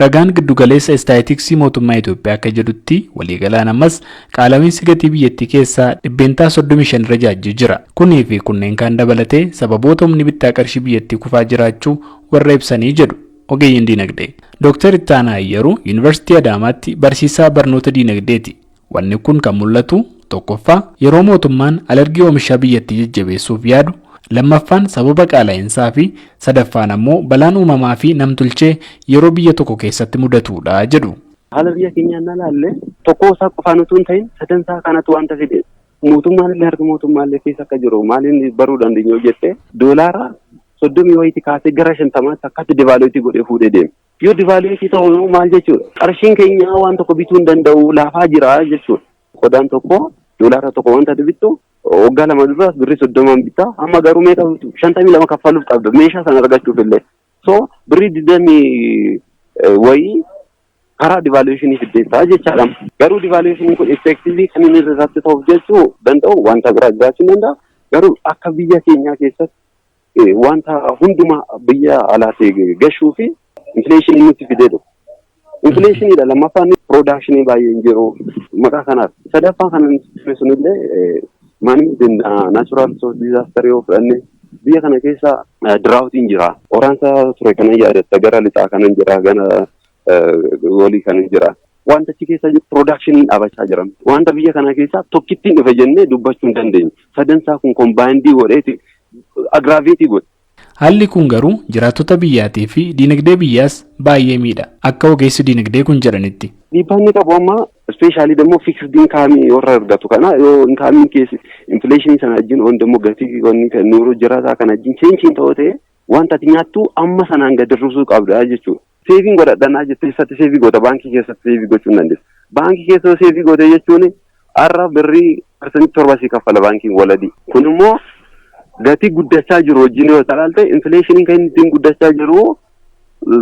Ragaan Giddugaleessa Istaayitiksii Mootummaa Itoophiyaa akka jedhutti waliigalaan ammas qaala'iinsi gatii biyyattii keessaa dhibbeentaa 35 irra jaajjee jira. Kunii fi kunneen kaan dabalatee sababoota humni bittaa qarshii biyyattii kufaa jiraachuu warra ibsanii jedhu ogeeyyiin diinagdee. Dooktar Ittaanaa Ayyaruu Yuunivarsiitii Adaamaatti barsiisaa barnoota diinagdeeti. Wanni kun kan mul'atu, tokkoffaa, yeroo mootummaan alergii oomishaa biyyattii jajjabeessuuf yaadu, lammaffaan sababa qaala'insaa fi sadaffaan ammoo balaan uumamaa fi nam-tulchee yeroo biyya tokko keessatti mudatuudha jedhu. Haala biyya keenyaa yennaa ilaalle tokkoo isaa qofaan utuu hin ta'in sadan isaa kanatu wanta fide mootummaan illee harka mootummaa illee keessa akka jiru maaliin baruu dandeenya yoo jette doolaara soddomii wayiitii kaasee gara shantamaatti akkatti divaaluutii godhee fuudhee deema. Yoo divaaluweetii ta'u maal jechuudha? Qarshiin keenya waan tokko bituu hin danda'u laafaa jira jechuudha. Qodaan tokko doolaara tokko wanta bittu waggaa lama dura birrii soddomaan bitta amma garuu meeqa shantamii lama kaffaluuf qabda meeshaa sana argachuuf illee. So birrii digdamii wayii karaa divaaluweeshinii fiddeessaa jechaadha. Garuu divaaluweeshiniin kun effektiivii kan inni irratti ta'uuf jechuu danda'u wanta biraa jiraachuu danda'a. Garuu akka biyya keenyaa keessatti wanta hundumaa biyya alaatii gashuu fi infileeshinii nutti fidee dhufu. Infileeshiniidha lammaffaan piroodakshinii baay'ee hin jiru maqaa kanaaf. Sadaffaa kan nuti sunillee maanni naachuraal diizaastarii yoo fudhanne biyya kana keessa diraawutiin jira. Waraansa ture kanan yaadatta gara lixaa kanan jira gara goolii kan jira. Wanta achi keessa jiru piroodaakshiniin dhaabachaa jiran. Wanta biyya kana keessaa tokkittiin dhufe jennee dubbachuu hin dandeenyu. Sadansaa kun kombaayindii godheeti agiraaveetii godhe. Haalli kun garuu jiraattota biyyaatii fi diinagdee biyyaas baay'ee miidha. Akka ogeessi diinagdee kun jedhanitti. Dhiibbaa inni qabu amma ispeeshaalii immoo fiiksdi inkaamii warra argatu kana yoo inkaamiin keessa infileeshinii sana wajjin waan immoo gatii wanni kan nuuru jiraataa kana wajjin cheenchiin ta'oo ta'e wanta ati nyaattu amma sanaan gad hir'isuu qabda jechuudha. Seeviin godhadhanaa jettee eessatti seevii goota baankii keessatti seevii gochuu hin dandeessu. Baankii keessa yoo seevii goote jechuun har'a birrii parsantii torba sii kaffala baankiin waladii. Kun immoo gatii guddachaa jiru wajjin yoo ilaalte infileeshiniin kan inni ittiin guddachaa jiru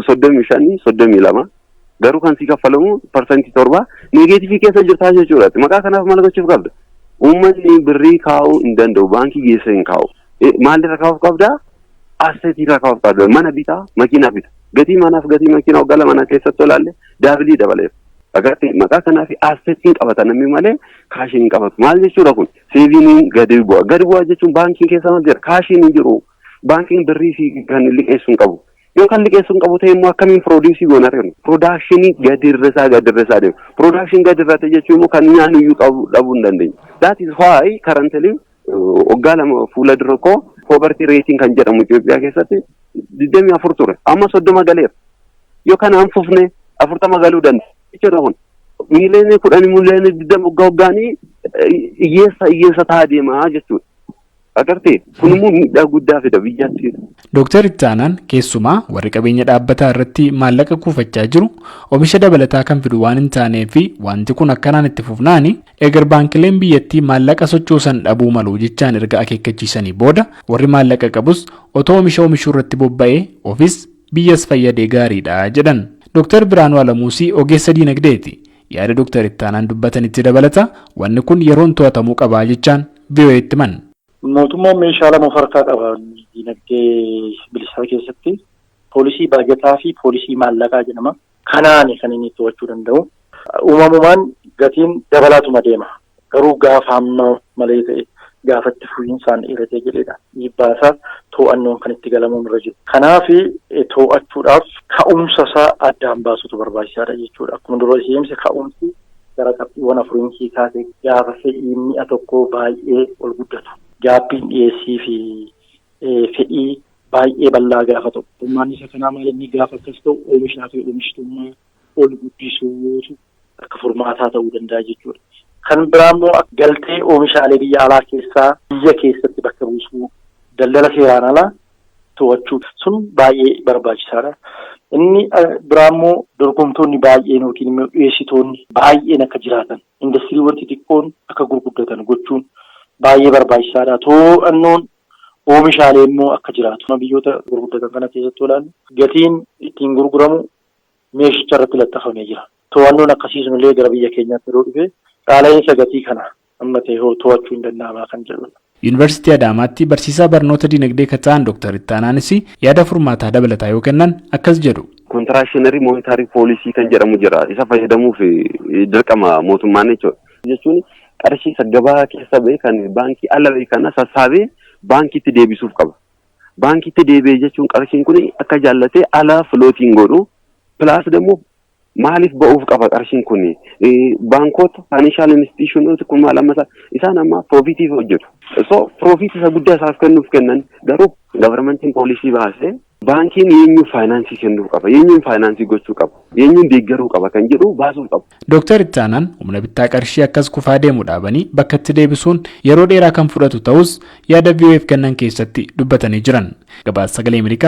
soddomii shanii soddomii lama Garuu kan si kaffalamu parsantii torba neegeetifii keessa jirtaa jechuudha. Maqaa kanaaf maal gochuuf qabda? Uummanni birrii kaa'uu hin danda'u. Baankii geessee hin kaa'u. Eh, Maalirra kaa'uuf qabda? Asseetiirra kaa'uuf qabda. Mana bitaa, makiinaa bita. Gatii manaaf gatii makiinaa waggaa lama na keessatti olaalle daabilii dabaleef. Agartee maqaa kanaaf asseetiin qabata namni malee kaashiin hin qabatu. Maal jechuudha kun? Seeviiniin gadi bu'a. Gadi bu'a jechuun baankiin keessa maal jira? Kaashiin hin jiru. Baankiin birrii fi kan liqeessu hin qabu. Yoo kan liqeessuu hin qabu ta'e immoo akkamiin piroodiisii goonaa ta'e piroodaakshinii gadi irra isaa gadi irra isaa deema. Piroodaakshinii gadi irra ta'e jechuun immoo kan nyaannu iyyuu qabu dhabuu hin dandeenye. That is why currently waggaa lama fuula dura koo poverty rating kan jedhamu Itoophiyaa keessatti digdamii afur ture. Amma soddoma galeera. Yoo kanaan fufne afurtama galuu danda'a. Jechuudha kun. Miiliyoonni kudhan miiliyoonni digdama waggaa waggaanii hiyyeessa hiyyeessa ta'aa deema jechuudha. Agartee kun immoo miidhaa guddaa fida biyyatti. Dooktar itti aanaan keessumaa warri qabeenya dhaabbataa irratti maallaqa kuufachaa jiru omisha dabalataa kan fidu waan hin taanee fi wanti kun akkanaan itti fufnaan eegar baankileen biyyattii maallaqa sochoosan dhabuu malu jechaan erga akeekkachiisanii booda warri maallaqa qabus otoo omisha omishuu irratti bobba'ee ofis biyyas fayyadee gaariidha jedhan. Dooktar Biraanuu Alamuusii ogeessa diinagdeeti. Yaada Doktar Ittaanaan dubbatan itti dabalata wanni kun yeroon to'atamuu qaba jechaan VOAtti himan. Mootummaan meeshaa lama of harkaa qaba diinagdee bilisaa keessatti. Poolisii baajataa fi poolisii maallaqaa jedhama. Kanaani kan inni to'achuu danda'u. Uumamumaan gatiin dabalaatuma deema. Garuu gaafa hamma malee ta'e, gaafa itti fufiinsaan dheeratee jedheedha dhiibbaa isaa too'annoon kan itti galamuun irra jiru. Kanaaf too'achuudhaaf ka'umsa isaa addaan baasuutu barbaachisaadha jechuudha. Akkuma dura ishee himse ka'umsi gara qabxiiwwan afuriin ishee kaase gaafa fedhiin mi'a tokkoo baay'ee ol guddatu. Gaappiin dhiyeessii fi fedhii baay'ee bal'aa gaafa ta'u. Furmaanni isa kanaa maal inni gaafa akkas ta'u oomishaa fi oomishtummaa ol guddisuutu akka furmaataa ta'uu danda'a jechuudha. Kan biraa immoo galtee oomishaalee biyya alaa keessaa biyya keessatti bakka buusuu daldala seeraan alaa to'achuu sun baay'ee barbaachisaadha. Inni biraa immoo dorgomtoonni baay'een yookiin immoo dhiyeessitoonni baay'een akka jiraatan indastiriiwwan xixiqqoon akka gurguddatan gochuun baay'ee barbaachisaadha. To'annoon oomishaalee immoo akka jiraatu biyyoota gurguddatan kana keessatti olaanu gatiin ittiin gurguramu meeshicha irratti laxxafamee jira. To'annoon akkasii sunillee gara biyya keenyaatti yeroo dhufe qaala'iinsa gatii kana amma ta'e hoo to'achuun ni danda'amaa kan jedhudha. Yuunivarsiitii Adaamaatti barsiisaa barnoota dinagdee kan ta'an Doktar Ittaanaanis yaada furmaataa dabalataa yoo kennan akkas jedhu. Kontiraakshiinarii moonitaarii poolisii kan jedhamu jira. Isa fayyadamuuf dirqama mootummaan jechuudha. Jechuun qarshii isa gabaa keessa ba'e kan baankii ala ba'e kana sassaabee baankiitti deebisuuf qaba. baankiitti deebi'e jechuun qarshiin kun akka jaallatee ala filootiin godhu pilaas immoo maaliif ba'uuf qaba qarshiin kun baankoota faayinanshaal instituushiinoota kun maal amma isaan amma piroofiitiif hojjetu. So piroofiit isa guddaa isaaf kennuuf kennan garuu gavarmentiin poolisii baasee baankiin eenyuuf faayinaansii kennuu qaba eenyuun faayinaansii gochuu qaba eenyuun deeggaruu qaba kan jedhu baasuu qaba. Dooktar Ittaanaan humna bittaa qarshii akkas kufaa deemu dhaabanii bakkatti deebisuun yeroo dheeraa kan fudhatu ta'uus yaada VOA'f kennan keessatti dubbatanii jiran. Gabaasa Sagalee Ameerikaaf